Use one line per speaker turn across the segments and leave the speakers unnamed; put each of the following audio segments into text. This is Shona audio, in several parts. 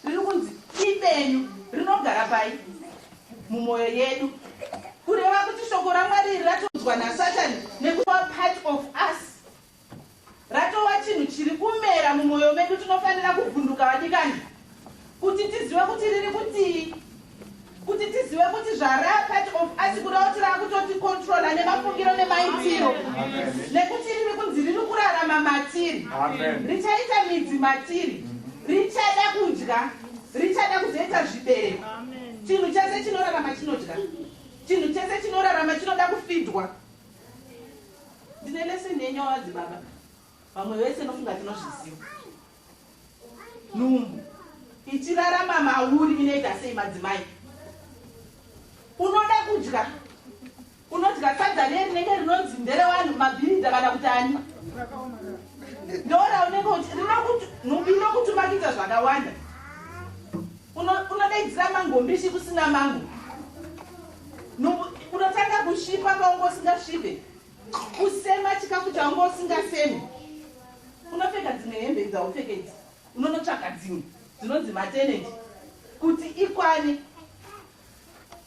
riri kunzi ibenyu rinogara pai mumwoyo yedu kureva kuti shoko ramwari iri ratonzwa nasatani nekuva part of us Ratova chinhu chiri kumera mumwoyo medu, tinofanira kuvhunduka vadikani kuti tizive kuti riri kutii, kuti tizive kuti zvara part of us kuda kuti rakutoti controla nemafungiro nemaitiro, nekuti riri kunzi riri kurarama matiri, richaita midzi matiri, richada kudya, richada kuzoita zvibereko. Chinhu chese chinorarama chinodya, chinhu chese chinorarama chinoda kufidwa. Ndine lesson yenyu wamadzibaba. Vamwe vese nofunga tinozviziva. Nhumbu ichirarama mauri inoita sei madzimai? Unoda kudya unodya sadza riye rinenge rinonzi nderewanhu mabhiridha kana kuti ani ndora unenge uti nhumbi inokutumakidza zvakawanda unodaidzira mangombishi kusina mango unotanga kusvipa paunge usingasvipe kusema chikafu chaunge usingasemi unopfeka dzimwe hembe dzaupfeke idzi unonotsvaga dzimwe dzinonzi mateneti kuti ikwane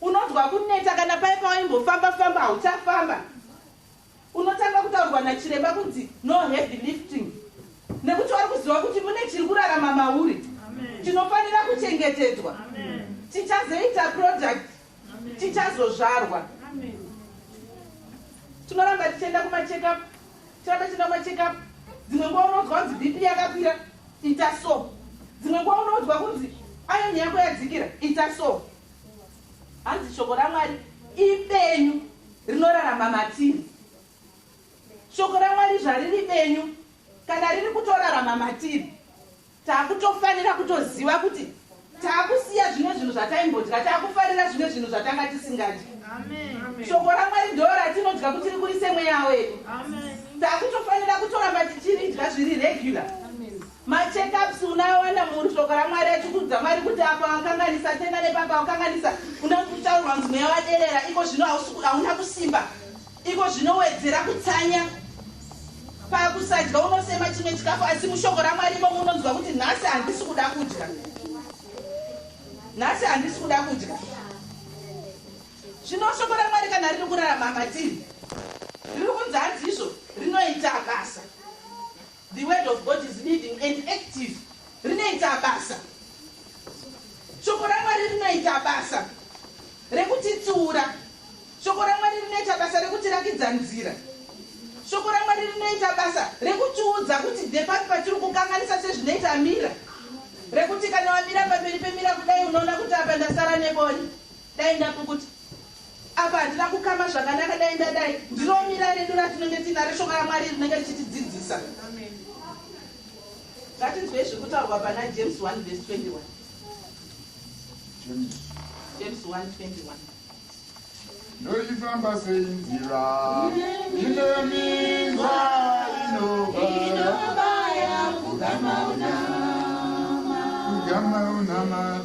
unonzwa kuneta kana paye pawaimbofamba famba hauchafamba Unotanga kutaurwa nachiremba kunzi no heavy lifting nekuti wari kuziva kuti mune chiri kurarama mauri chinofanira kuchengetedzwa. Tichazoita product, tichazozvarwa. Tinoramba tichienda kumacheckup, tichiramba tichienda kumacheckup. Dzimwe nguva unoudzwa kunzi BP yakakwira, ita so. Dzimwe nguva unoudzwa kunzi iron yako yadzikira, ita so. Hanzi shoko raMwari ibenyu rinorarama matiri. Shoko raMwari zvariri benyu kana riri kutorarama matiri, takutofanira kutoziva kuti takusiya zvimwe zvinhu zvataimbodya, takufarira zvimwe zvinhu zvatanga tisingadyi. Shoko raMwari ndoo ratinodya kuti riburise mweya wedu. Takutofanira kutoramba tichiridya zviri regular. Ma check ups unoawana mur shoko raMwari achikuudza Mwari kuti apa wakanganisa tenda nepapa wakanganisa unoda kuti kutaurwa kunzi mweya waderera iko zvino hausi hauna kusimba iko zvinowedzera kutsanya pakusadya unosema chimwe chikafu asi mushoko raMwari imomo unonzwa kuti nhasi handisi kuda kudya nhasi handisi kuda kudya zvino shoko raMwari kana riri kurarama matiri riri kunzi hanzi izvo rinoita basa The word of God is living and active rinoita basa shoko ramwari rinoita basa rekutitsiura shoko ramwari rinoita basa rekutirakidza nzira shoko ramwari rinoita basa rekutiudza kuti depati patiri kukanganisa sezvinoita mira rekuti kana wamira pamberi pemira kudai unoona kuti apa ndasara nebori dai ndapukuta Apa handina kukama zvakanaka dai ndadai. Ndiro mira redu ratinenge tiina reShoko raMwari rinenge richitidzidzisa. Ngatinzwei zviri kutaurwa pana James 1 vhesi 21. James. James 1 21.
Ndoifamba sei nzira inominzwa inobaya kugama unama kugama unama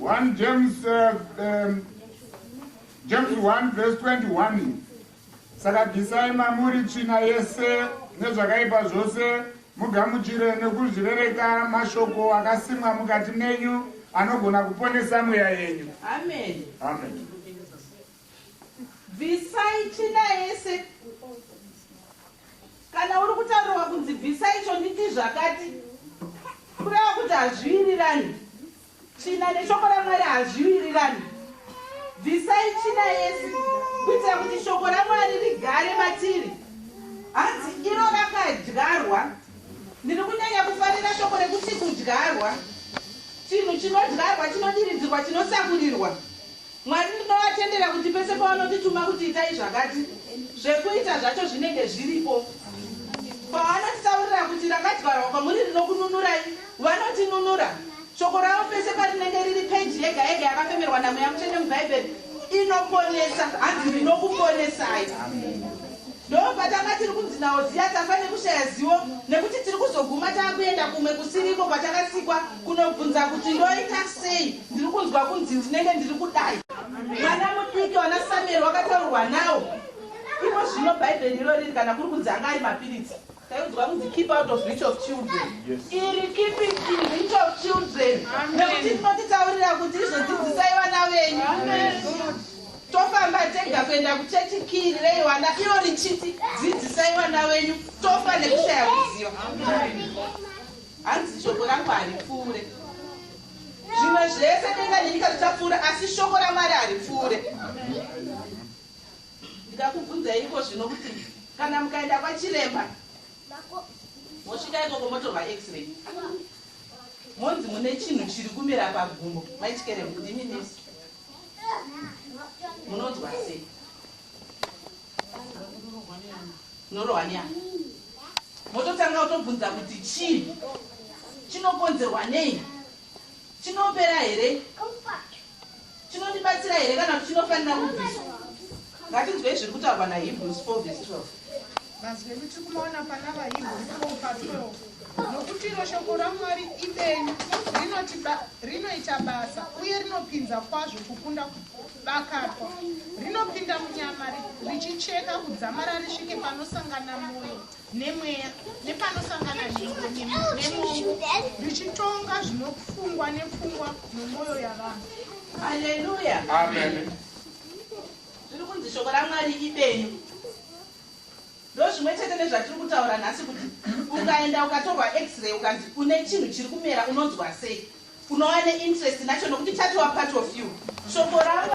One James, uh, um, James 1 verse 21 saka bvisai mamuri tsvina yese nezvakaipa zvose mugamuchire nekuzvirereka mashoko akasimwa mukati menyu anogona kuponesa mweya yenyu amen,
amen. Bvisai tsvina yese. Kana uri kutaurwa kunzi bvisa icho nditi zvakati kureva kuti hazviwirirani. Tsvina neshoko raMwari hazviwirirani. Bvisai tsvina yese kuitira kuti shoko raMwari rigare matiri. Hanzi iro rakadyarwa. Ndiri kunyanya kufarira shoko rekuti kudyarwa. Chinhu chinodyarwa chinodiridzirwa chinosakurirwa. Mwari ndinovatendera kuti pese pavanotituma kuti itai zvakati, zvekuita zvacho zvinenge zviripo. Pavanotitaurira kuti rakadyarwa kwamuri rinokununurai, vanotinunura. Shoko ravo pese parinenge riri, peji yega yega yakafemerwa naMweya Mutsvene muBhaibheri, inoponesa. Hanzi, Ndinokuponesai. Ndopatanga tiri kunzi naOziya tafa nekushaya zivo, nekuti tiri kuzoguma tava kuenda kumwe kusiri iko kwatakasikwa, kunobvunza kuti, Ndoita sei? Ndiri kunzwa kunzi ndinenge ndiri kudai. Mwana mudiki wanaSamueri wakataurwa nawo. Imo zvino Bhaibheri iro riri kana kuri kunzi anga ari mapiritsi. Taiudzwa kunzi keep out of reach of children. Iri keep it in reach of children. Nekuti rinotitaurira kuti izvo dzidzisai vana venyu. Tofamba tega kuenda kuchechi kiri reiwana iro richiti dzidzisai vana venyu tofa nekushaya kuziva. Hanzi shoko rangu haripfuure. Zvimwe zvese denga nenyika zvichapfuura asi shoko raMwari haripfuure. Ndikakubvunzai iko zvino kuti kana mukaenda kwachiremba mosvika ikoko motorwa x-ray monzi mune chinhu chiri kumera pagumbo maichikere ndimi nesi munonzwa sei Unorohwa neani? Mototanga kutobvunza kuti chii? Chinokonzerwa nei? Chinopera here? Chinondibatsira here kana kuti chinofanira kubviswa? Ngatinzwei zviri kutaurwa naHebrews 4 vs 12. Mazwi ekuti
kumaona pana vaHebrews 4 pa 12 nokuti iro shoko raMwari ibenyu rinoti ba- rinoita basa uye rinopinza kwazvo kukunda ku- Bakatwa rinopinda munyama richicheka kudzamara risvike panosangana moyo nemweya nepanosangana nhengo nemongo richitonga zvinofungwa nepfungwa nomoyo yavanhu. Haleluya.
Amen. Zviri kunzi shoko raMwari ibenyu. Ndozvimwe chete nezvatiri kutaura nhasi kuti ukaenda ukatorwa x-ray ukanzi une chinhu chiri kumera unonzwa sei? unova ne interest nacho nokuti chatova part of you shoko ravo